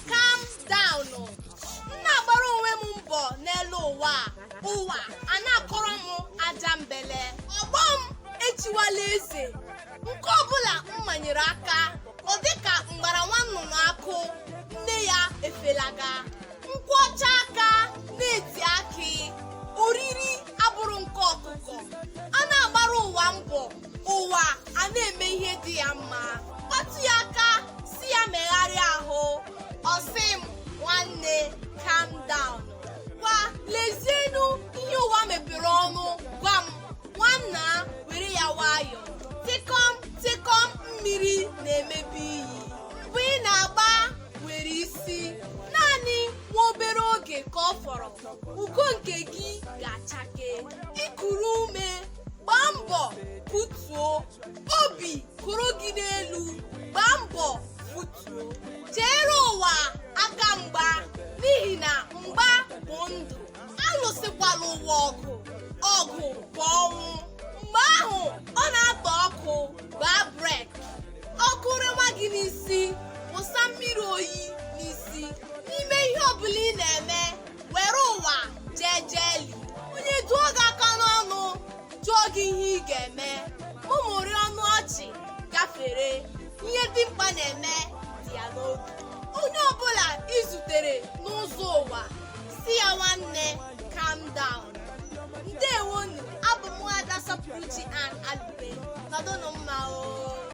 calm down o. m na-agbara onwe m mbọ n'elu ụwa a. ụwa a na-akọrọ m ajambele ọgbọ m echiwala eze nke ọbụla m manyere aka ọ dịka m gbara nwa nnụnụ akụ nne ya efelaga m kwọchaa aka na-eti akị oriri abụrụ nke ọkụkọ a na-agbara ụwa mbọ ụwa a na-eme ihe dị ya mma kpatụ ya aka sị ya megharịa ahụ ọ sị m nwanne calm down ngwa lezienụ ihe ụwa mepere ọnụ gwa m nwanna were ya nwayọ tịkọm tịkọm mmiri na-emebe iyi mbọ ị na-agba nwere isi naanị nwa obere oge ka ọ fọrọ ugo nke gị ga-achake i kuru ume gbaa mbọ butuo obi koro gị n'elu gbaa mbọ butuo cheere ụwa aka mgba n'ihi na mgba bụ ndụ alụsịkwala ụwa ọgụ ọgụ bụ ọnwụ mgbe ahụ ọ na-atọ ọkụ gbaa break ọkụ rewa gị n'isi wụsa mmiri oyi n'isi n'ime ihe ọbụla ị na-eme were ụwa jejeli onye duo gị aka n'ọnụ jụọ gị ihe ị ga-eme mụmụrị ọnụ ọchị gafere ihe dimkpa na-eme dị ya n'obi onye ọbụla i zutere n'ụzọ ụwa sị ya nwanne calm down ndewonụ abụ m nwaada sọpụrụchi an alube nọdụnụ mma o